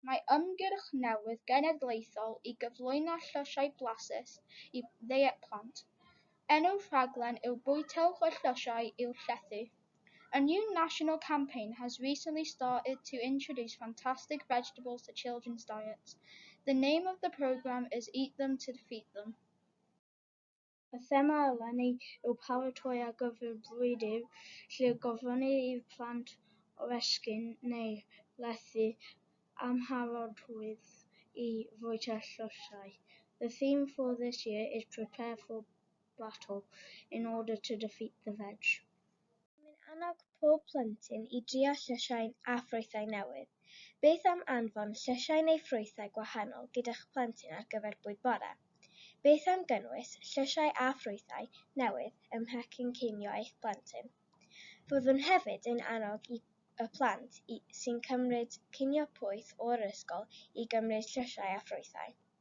Mae ymgyrch newydd genedlaethol i gyflwyno llysiau blasus i ddeiet plant. Enw'r rhaglen yw Bwytewch y Llysiau i'w Llethu. A new national campaign has recently started to introduce fantastic vegetables to children's diets. The name of the programme is Eat Them to Feed Them. Y thema eleni yw paratoi ar gyfer bwyd i'r lle gofynnir i'r plant oresgyn neu lethu amharodrwydd i fwyta llysiau. The theme for this year is prepare for battle in order to defeat the veg. Rydym yn annog pob plentyn i drio llysiau a ffrwythau newydd. Beth am anfon llysiau neu ffrwythau gwahanol gyda'ch plentyn ar gyfer bwyd bore? Beth am gynnwys llysiau a ffrwythau newydd ym mhecyn cinio eich plentyn? Byddwn hefyd yn annog i y plant sy'n cymryd cinio poeth o'r ysgol i gymryd llysiau a ffrwythau.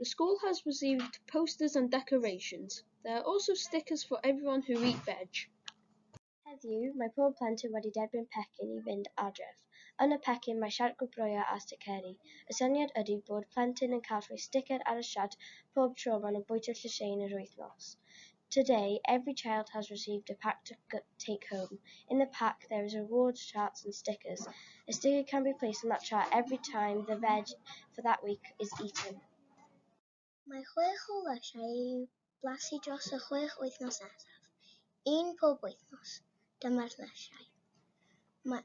The school has received posters and decorations. There are also stickers for everyone who eat veg. Heddiw, mae pob plentyn wedi derbyn pecyn i fynd adref. Yn y pecyn mae siart gwobrwyo a sticeri. Y syniad ydy bod plentyn yn cael rhoi sticer ar y siart pob tro maen nhw'n bwyta llysieuyn yr wythnos. Today, every child has received a pack to take home. In the pack there is rewards charts and stickers. A sticker can be placed on that chart every time the veg for that week is eaten. Mae chwech o lysiau i'w blasu dros y chwech wythnos nesaf, un pob wythnos. Dyma'r lysiau. Mae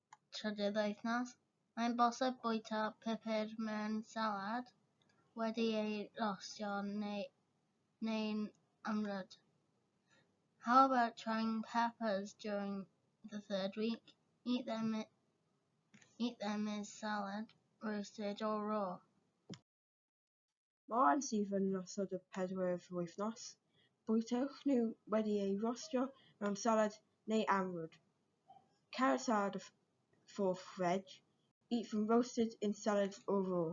trydydd wythnos. Mae'n bosib bwyta pupur mewn salad wedi ei rostio neu, neu'n ymryd. How about trying peppers during the third week? Eat them, eat them as salad, roasted or raw. Mae rhai sydd yn nosod y pedwerydd wythnos, bwytewch nhw wedi eu rostio mewn salad neu amrwd. Cael y salad of four veg, eat them roasted in salad or raw.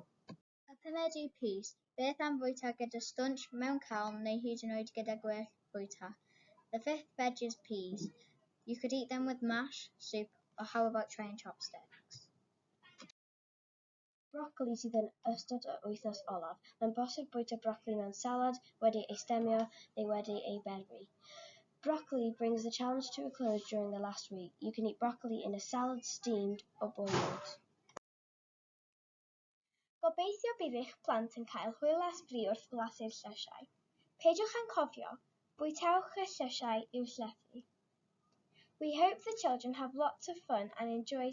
A pumed yw pys? Beth am fwyta gyda stwnsh, mewn calm neu hyd yn oed gyda gwell bwyta? The fifth veg is peas. You could eat them with mash, soup or how about trying chopsticks? Brocoli sydd yn ystod yr wythnos olaf. Mae'n bosib bwyta brocoli mewn salad, wedi ei stemio, neu wedi ei berwi. Brocoli brings the challenge to a close during the last week. You can eat brocoli in a salad, steamed or boiled. Gobeithio bydd eich plant yn cael hwyl a sbri wrth flasu'r llysiau. Peidiwch â'n cofio, bwytewch y llysiau i'w llethu. We hope the children have lots of fun and enjoy